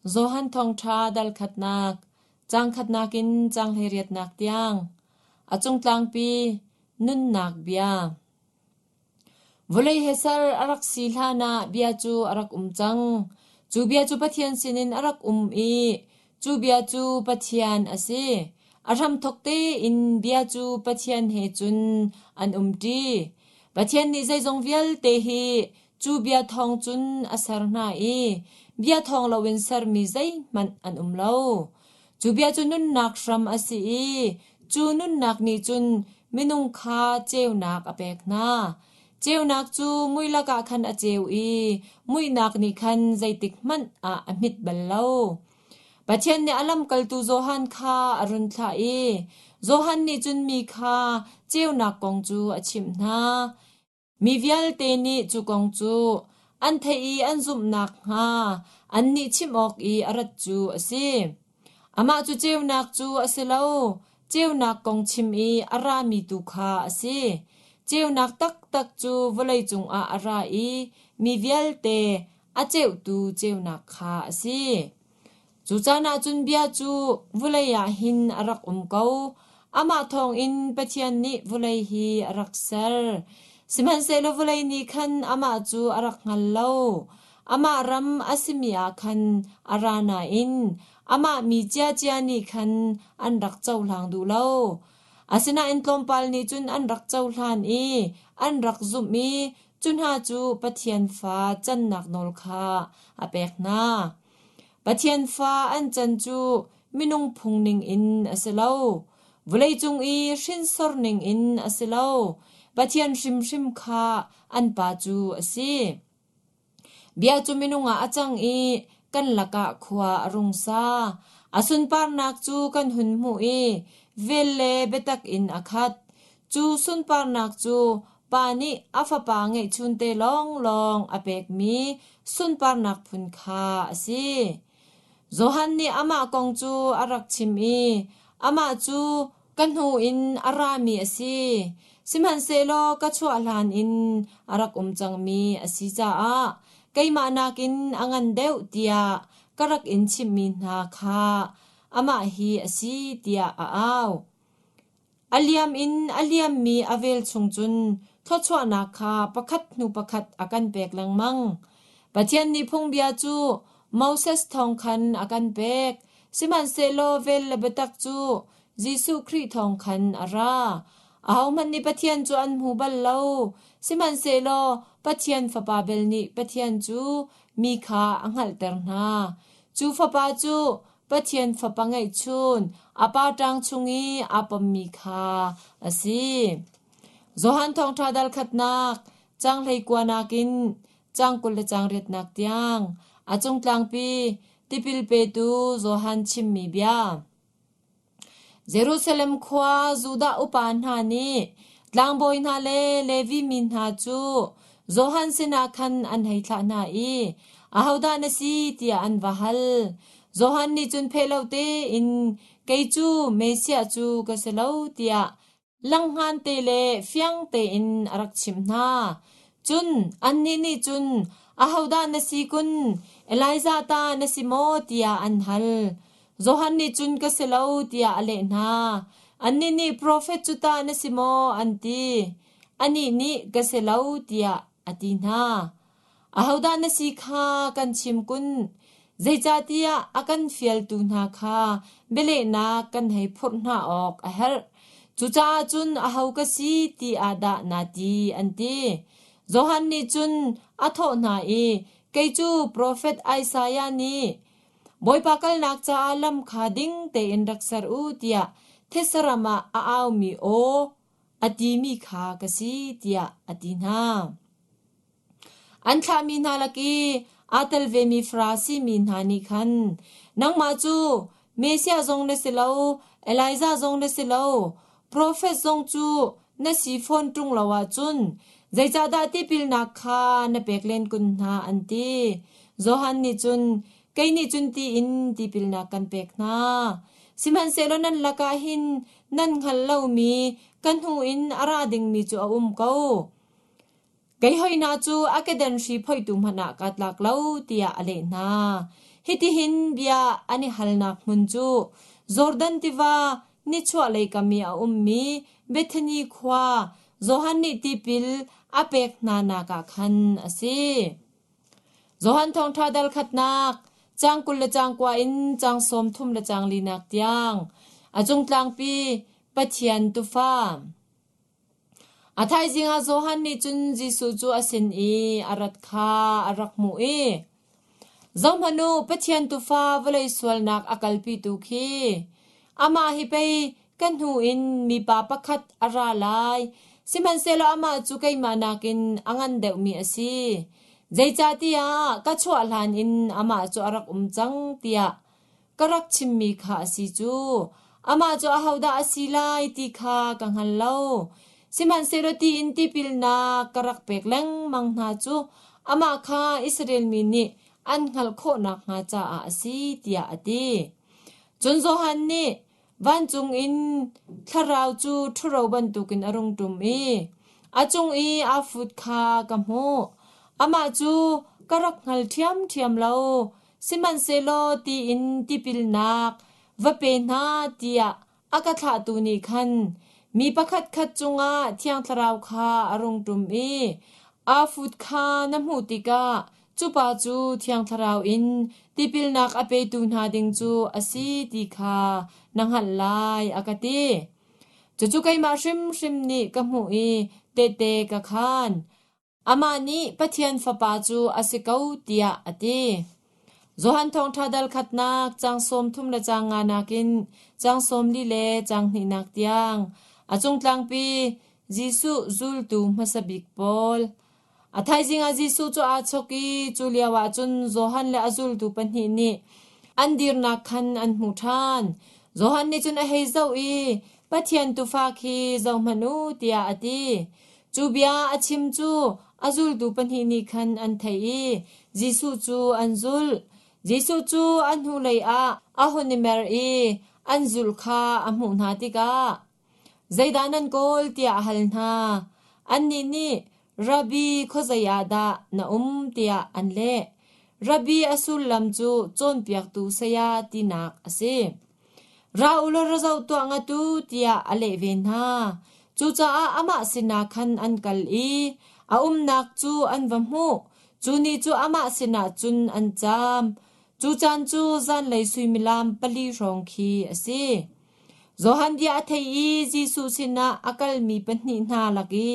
Johan thawngṭha dal khatnak, cang khatnak in cang hleiriatnak tiang, a cungtlangpi nunnak bia. Vawlei he ser a rak si hlanah bia cu a rak um cang. Cu bia cu Pathian sinin a rak um i cu bia cu Pathian a si. A hramthok tein bia cu Pathian he cun an um ṭi. Pathian nih zeizong vialte hi Cu bia thawng cun a ser hna i bia thawng loin sermi zeihmanh an um lo. Cu bia cu nunnak hram a si i cu nunnak nih cun minung kha ceunak a pek hna. Ceunak cu mui lakah khan a ceu i muihnak nih khan zeitik hmanh ah a hmit bal lo. Pathian nih a lamkaltu Johan kha a run thlah i Johan nih cun mi kha ceunak kong cu a chimh hna. Mi vialte nih cu kong cu an theih i an zumh nakhnga annih chimh awk i a rat cu a si. Amah cu ceunak cu a si lo, ceunak kong chim i a rami tu kha a si. Ceunak taktak cu vawlei cungah a ra i mi vialte a ceutu ceunak kha a si. Cu caan ahcun bia cu vulei ah hin a rak um ko. Amah thawngin Pathian nih vulei hi a rak ser. Sihmanhsehlaw vulei nih khan amah cu a rak hngal lo. Amah ram a simi ah khan a ra nain amah mi ciacia nih khan an rak cohlang duh lo. Asinain tlawmpal nih cun an rak cohlan i an rak zumh i cu hna cu Pathian fa cannak nawl kha a pek hna. Pathian fa an can cu minung phung ningin a si lo, vawleicung i hrinsor ningin a si lo, Pathian hrimhrim kha an Pa cu a si. Bia cu minung ah a cang i kan lakah khua a rung sa. A sunparnak cu kan hun hmuh i vel le biatak in a khat. Cu sunparnak cu pa nih a fapa ngeihchun te lawnglawng a pekmi sunparnak phun kha a si. Johan nih amah kong cu a rak chim i amah cu ka hnu in a rami a si, sihmanhsehlaw ka chuah hlan in a rak um cangmi a si caah keimah nakin a ngan deuh tiah ka rak in chimhmi hna kha amah hi a si tiah a au. A liam in a liammi a vel chung cun thluachuahnak kha pakhat hnu pakhat a kan pek lengmang. Pathian nih phungbia cu Moses thawng khan a kan pek, sihmanhsehlaw vel le biatak cu Jesuh Khrih thawng khan a ra. Ahohmanh nih Pathian cu an hmu bal lo, sihmanhsehlaw Pathian Fapa bel nih Pathian cu mi kha a hngalhter hna. Cu Fapa cu Pathian fapa ngeihchun a pa ṭang chung i aa pommi kha a si. Johan Thawngṭha dalkhatnak, cang hleikua nakin cang kul le cang riatnak tiang, a cung tlangpi tipil petu Johan chimmi bia. Jerusalem khua Judah upa hna nih tlangbawi hna le Levi mi hna cu Johan sinah khan an hei thlah hna i, “Ahodah na si?” tiah an va hal. Johan nih cun pheh lo tein, “Kei cu Messiah cu ka si lo,” tiah Langhhngan te le fiang tein a rak chimh hna. Cun annih nih cun, “Ahodah na si kun? Elijah ta na si maw?” tiah an hal. Johan nih cun, “Ka si lo,” tiah a leh hna. Annih nih, “Profet cu ta na si maw?” an ti. Anih nih, “Ka si lo,” tiah a ti hna. Ahodah na si kha kan chim kun. Zeicahtiah a kan fialtu hna kha bialehnak kan hei phurh hna awk a herh. Cucaah cun aho ka si ti ah dah naa ti, an ti. Johan nih cun a thawh hna i, Kei cu profet Isaiah nih, Bawipa kalnak caah lam kha ding tein rak ser u, tiah thitsaram ah a aumi aw, a timi kha ka si tiah a ti hna. An thlahmi hna lak i aa tel vemi Farasi mi hna nih khan, Nangmah cu Messiah zong na si lo, Elijah zong na si lo, profet zong cu na si fawn ṭung lo ahcun zeicahdah tipilnak kha na pek len kun hna, an ti. Johan nih cun, Kei nih cun ti in tipilnak kan pek hna. Sihmanhsehlaw nan lakah hin Nan hngal lomi ka hnu in a ra dingmi cu a um ko. Kei hoihna cu a kedan hri phoitu hmanh ah kaa tlak lo tiah a leh hna. Hitihin bia an i halnak hmun cu Jordan tiva nichuahlei kam i a ummi Bethani khua Johan nih tipil a pek hnanak ah khan a si. Johan thawngṭha darkhatnak, cang kul le cang kua in cang sawm thum le cang linak tiang, a cung tlangpi Pathian tufa. A thaizing ah Johan nih cun Jesuh cu a sin i a rat kha a rak hmuh i, Zohmanu Pathian tufa vawlei sualnak a kalpitu khi amah hi pei Ka hnu in mipa pakhat a ra lai, sihmanhsehlaw amah cu keimah nakin a ngan deuhmi a si. Zeicahtiah ka chuah hlan in amah cu a rak um cang tiah ka rak chimmi kha a si cu. Amah cu ahodah a si lai ti kha ka hngal lo. Sihmanhsehlaw tiin tipilnak ka rak pek lengmang hna cu amah kha Israel mi nih an hngalh khawh nakhnga caah a si, tiah a ti. Cun Johan nih, Vancung in thlarau cu ṭhuro bantukin a rung ṭum i a cung i aa fut kha ka hmuh. Amah cu ka rak hngal ṭhiamṭhiam lo, sihmanhsehlaw ti in tipilnak va pe hna tiah a ka thlahtu nih khan mi pakhatkhat cungah Thiang Thlarau kha a rung ṭum i aa fut kha na hmuh tikah Cupa cu Thiang Thlarau in tipilnak a petu hna ding cu a si ti kha na hngalh lai, a ka ti. Cucu keimah hrimhrim nih ka hmuh i tehte ka khaan. Amah nih Pathian Fapa cu a si ko tiah a ti. Johan Thawngṭha dal khatnak cang sawm thum le cang nga nakin cang sawm li le cang hnihnak tiang a cungtlangpi Jesuh zultu hmasa bik pawl A thaizing ah Jesuh cu aa chawk i cu lioah cun Johan le a zultu pahnih nih an dirnak khan an hmu ṭhan. Johan nih cun a hei zoh i, Pathian Tuufa khi zohhmanh u tiah a ti. Cu bia a chim cu a zultu pahnih nih khan an theih i Jesuh cu an zulh. Jesuh cu a hnulei ah a hun i mer i an zulh kha a hmuh hna tikah, Zeidah nan kawl? tiah a hal hna. Annih nih, Rabbi, khuazei ah dah na um? tiah an leh. Rabbi a sullam cu cawnpiaktu saya tinak a si. Ra u law ra zoh tuah nga tu, tiah a leh ve hna. Cucaah amah sinah khan an kal i a umnak cu an va hmuh. Cu ni cu amah sinah cun an cam. Cu caan cu zanlei suimilam pali hrawng khi a si. Johan bia a thei i Jesuh sinah a kalmi pahnih hna lak i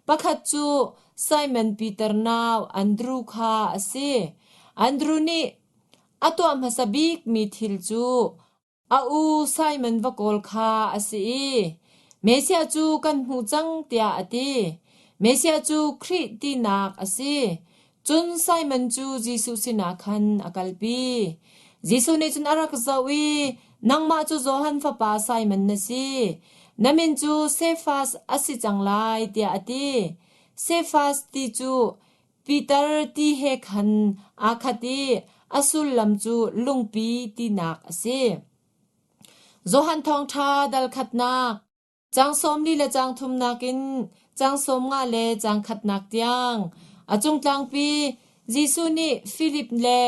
pakhat cu Simon Piter nau Andru kha a si. Andru nih a tuah hmasa bikmi thil cu a u Simon va kawl kha a si i Mesia cu kan hmu cang tiah a ti. Mesia cu Khrih tinak a si. Cun Simon cu Jesuh sinah khan a kalpi. Jesuh nih cun a rak zoh i, “Nangmah cu Johan fapa Simon na si. Na min cu Sefas a si cang lai,” tiah a ti. Sefas ti cu Piter ti he khan aa khat i a sullam cu Lungpi tinak a si. Johan Thawngṭha dal khatnak Caang sawmli le caang thumnak in caang sawmnga le caang khatnak tiang a cungtlangpi Jesuh nih Filip le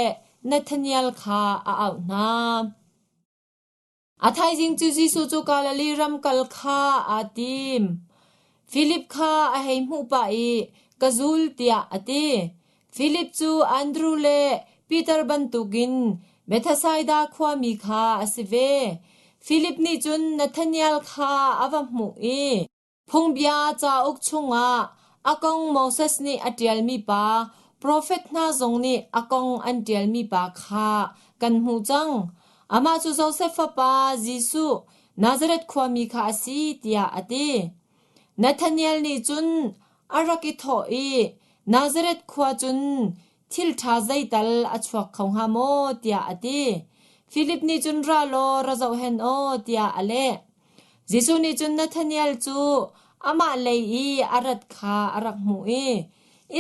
Nathanael kha a auh hna. A thaizing cu Jesuh cu Galilee ram kal kha aa tim. Filip kha a hei hmuh pah i, “Ka zul,” tiah a ti. Filip cu Andru le Piter bantukin Bethsaida khuami kha a si ve. Filip nih cun Nathanael kha a va hmuh i phungbia cauk chungah a kong Moses nih a ṭialmi pa, profet hna zong nih a kong an ṭialmi pa kha kan hmuh cang. Amah cu Josef fapa Jesuh, Nazareth khuami kha a si, tiah a ti. Nathanael nih cun A rak i thawh i, Nazareth khua cun thilṭha zeital a chuak kho hnga maw? tiah a ti. Filip nih cun ra law ra zohhen aw tiah a leh. Jesuh nih cun Nathanael cu amah lei i a rat kha a rak hmuh i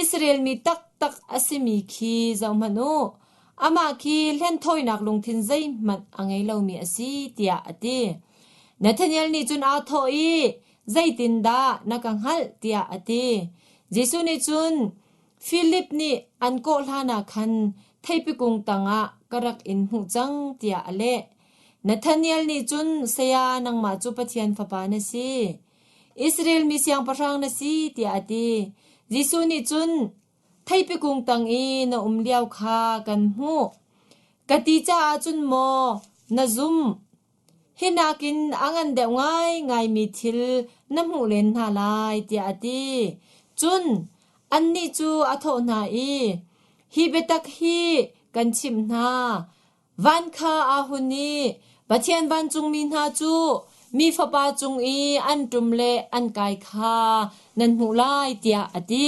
Israel mi taktak a simi khi zohhmanh u, amah khi hlenthawinak lungthin zeihmanh a ngei lomi a si tiah a ti. Nathanael nih cun aa thawh i, Zeitindah na ka hngalh? tiah a ti. Jesuh nih cun, Filip nih an kawh hlanah khan theipi kung tangah ka rak in hmuh cang, tiah a leh. Nathanael nih cun, Saya, nangmah cu Pathian Fapa na si. Israel mi siangpahrang na si, tiah a ti. Jesuh nih cun, Theipikung tang i na um lio kha kan hmuh, ka ti caah cun maw na zumh? Hi nakin a ngan deuh ngaingaimi thil na hmuh len hna lai, tiah a ti. Cun annih cu a thawh hna i, “Hi biatak hi kan chimh hna: Van kha aa hun i Pathian vancungmi hna cu mi Fapa cung i an ṭum le an kai kha nan hmuh lai,” tiah a ti.